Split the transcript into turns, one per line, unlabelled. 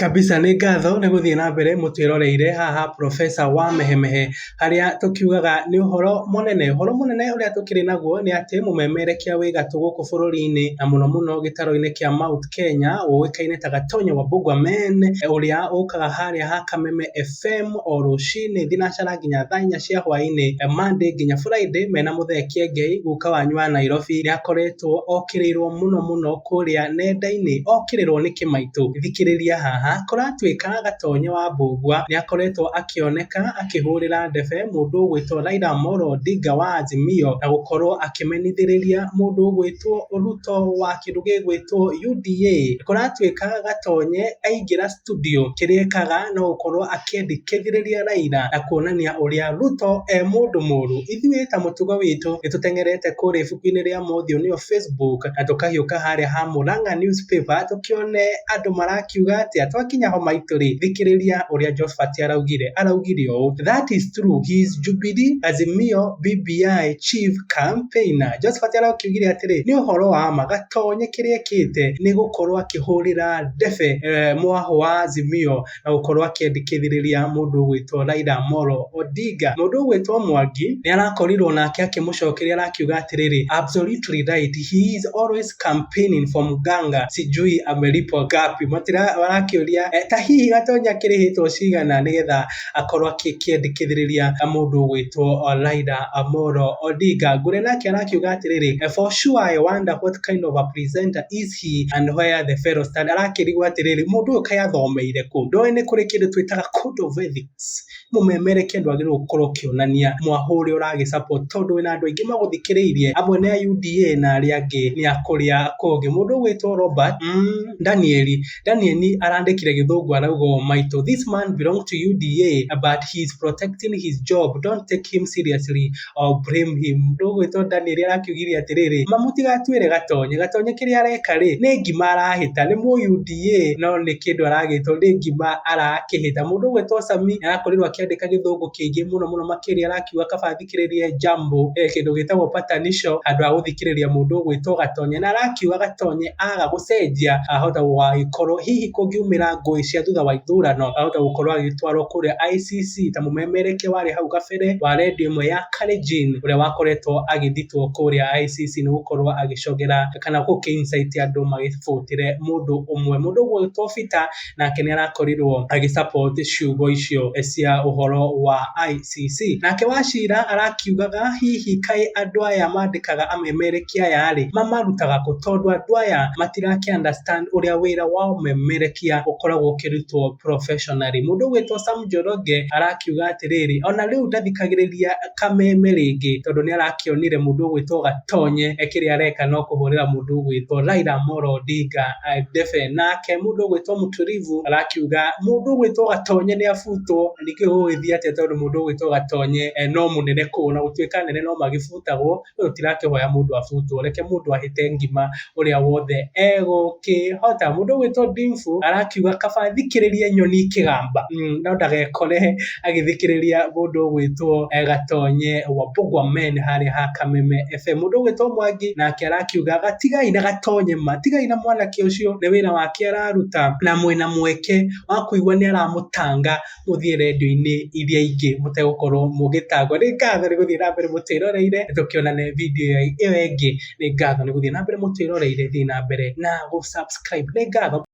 Kabisa nĩ ngatho nĩ gũthiĩ na mbere mũtwĩroreire haha professor wa Mehemehe harĩa tũkiugaga nĩ ũhoro mũnene. Ũhoro mũnene ũrĩa tũkĩrĩ naguo nĩ atĩ mũmemerekia wĩ gatũ gũkũ bũrũri-inĩ na mũno mũno gĩtaro-inĩ kĩa Mount Kenya ũĩkaine ta Gatonyo wa Bugwameen ũrĩa ũkaga harĩa ha Kameme... fem o rũcinĩ thinacara nginya thaa inya cia hwainĩ Monday nginya Friday mena mũthee Kiengei guka wanyu wa Nairobi nĩakoretwo okĩrĩirwo mũno mũno kũrĩa nenda-inĩ okĩrĩrwo nĩ kĩmaitũ thikĩrĩria haha kũratuĩka gatonye wa mbũngua nĩakoretwo akĩoneka akĩhũrĩra ndebe mũndũ ũgwĩtwo Raila Amolo Odinga wa Azimio na gũkorwo akĩmenithĩrĩria mũndũ ũgwĩtwo Ruto wa kĩndũ gĩgwĩtwo UDA kũratuĩka gatonye aingĩra studio kĩrĩa ekaga no gũkorwo akĩendekithĩrĩria Raila na kuonania ũrĩa Ruto e mũndũ mũru. Ithuĩ ta mũtugo witũ nĩ tũteng'erete kũrĩa ibuku-inĩ rĩa Mothiũ nĩyo Facebook na tũkagĩũka harĩa ha Murang'a Newspaper tũkĩone andũ marakiuga atĩa. Twakinya ho maitũ rĩ, thikĩrĩria ũrĩa Josphat araugire. Araugire ũũ, That is true, he is Jubilee, Azimio, BBI, chief campaigner. Josphat arakiugire atĩrĩ, nĩ ũhoro wa ma, Gatonye kĩrĩa ekĩte nĩ gũkorwo akĩhũrĩra... debe eh, mwahũ wa Azimio na gũkorwo akĩendekithĩrĩria mũndũ ũgwĩtwo Raila Molo Odinga. Mũndũ ũgwĩtwo Mwangi nĩ arakorirwo nake akĩmũcokeria arakiuga atĩrĩrĩ, absolutely right, he is always campaigning for Muganga, sijui amelipo gapi. Matira arakĩũria eh, ta hihi gatonya kĩrĩhĩtwo cigana nĩgetha akorwo akĩendekithĩrĩria mũndũ ũgwĩtwo Raila Amolo Odinga. Ngũrĩ nake arakiuga atĩrĩrĩ, eh, for sure I wonder what kind of a presenter is ti Anhwe ya The Fellow Stand, arakĩrigwo atĩrĩrĩ, mũndũ ũyũ kaĩ athomeire kũ? Ndoĩ nĩ kũrĩ kĩndũ twĩtaga code of ethics. Mũmemerekia ndwagĩrĩirwo gũkorwo ũkĩonania mwahũ ũrĩa ũragĩ support tondũ wĩna andũ aingĩ magũthikĩrĩirie, amwe nĩ a UDA na arĩa angĩ nĩ a kũrĩa kũngĩ. Mũndũ ũgwĩtwo Robert mm Danieli, Danieli arandĩkire gĩthũngũ arauga ũũ, Maitũ, this man belong to UDA but he is protecting his job, don't take him seriously. I'll blame him. Ndũgwĩtwo Danieli arakiugire atĩrĩrĩ, ma mũtigatuĩre gatonye. Gatonye kĩrĩa areka rĩ, nĩ ngima arahĩta, nĩ mũ UDA no nĩ kĩndũ aragĩtwo, nĩ ngima arakĩhĩta. Mũndũ ũgwĩtwo Sami arakorirwo akĩandĩka gĩthũngũ kĩingĩ mũno mũno makĩria arakiuga kaba athikĩrĩrie Jambo, eh, kĩndũ gĩtagwo patanisho handũ ha gũthikĩrĩria mũndũ ũgwĩtwo Gatonye. Na arakiuga Gatonye aga gũcenjia ahota gũgagĩkorwo hihi kũngiumĩra ngũĩ cia thutha wa ithurano ahota gũkorwo agĩtwarwo kũrĩa ICC ta mũmemerekia warĩ hau kabere. mbere wa redio ĩmwe ya Kalenjin ũrĩa wakoretwo agĩthitwo kũrĩa ICC nĩ gũkorwo agĩcogera kana gũkĩincaiti andũ magĩbotire mũndũ ũmwe mũndũ ũguo ũgĩtwo Peter nake nĩ arakorirwo agĩsupport ciugo icio cia ũhoro wa ICC nake wacira arakiugaga hihi kaĩ andũ aya mandĩkaga amemerekia aya-rĩ mamarutaga kũ tondũ andũ aya matirakĩ understand ũrĩa wĩra wa ũmemerekia ũkoragwo ũkĩrutwo professionally. Mũndũ ũgwĩtwo Sam Njoroge arakiuga atĩrĩrĩ, ona rĩu ndathikagĩrĩria kameme rĩngĩ tondũ nĩ arakĩonire mũndũ ũgwĩtwo Gatonye kĩrĩa areka no kũhũrĩra mũndũ ũgwĩtwo Raila Amolo Odinga eh, ndebe. Nake mũndũ ũgwĩtwo Mũturivu arakiuga mũndũ ũgwĩtwo Gatonye nĩ abutwo, ningĩ ũgũgĩthiĩ atĩa tondũ mũndũ ũgwĩtwo Gatonye eh, no mũnene kũna gũtuĩka nene no magĩbutagwo we ũtirakĩhoya mũndũ abutwo reke mũndũ ahĩte ngima ũrĩa wothe egũkĩhota mũndũ ũgwĩtwo dimfu arakiuga kaba thikĩrĩrie nyoni kĩgamba mm, no ndagekore agĩthikĩrĩria mũndũ ũgwĩtwo eh, gatonye wa bogwa men harĩa ha kameme fm mũndũ ũgwĩtwo mwangi nake arakiuga gatigai na gatonye ma tigai na mwanake ũcio nĩ wĩra wake araruta na mwĩna mweke wa kũigua nĩ aramũtanga mũthiĩ rendio-inĩ iria ingĩ mũtegũkorwo mũgĩtangwo. Nĩ ngatho nĩ gũthiĩ na mbere mũtwĩroreire, nĩ tũkĩonane video ĩyo ĩngĩ. Nĩ ngatho nĩ gũthiĩ na mbere mũtwĩroreire, thiĩ na mbere na gũ subscribe. Nĩ ngatho.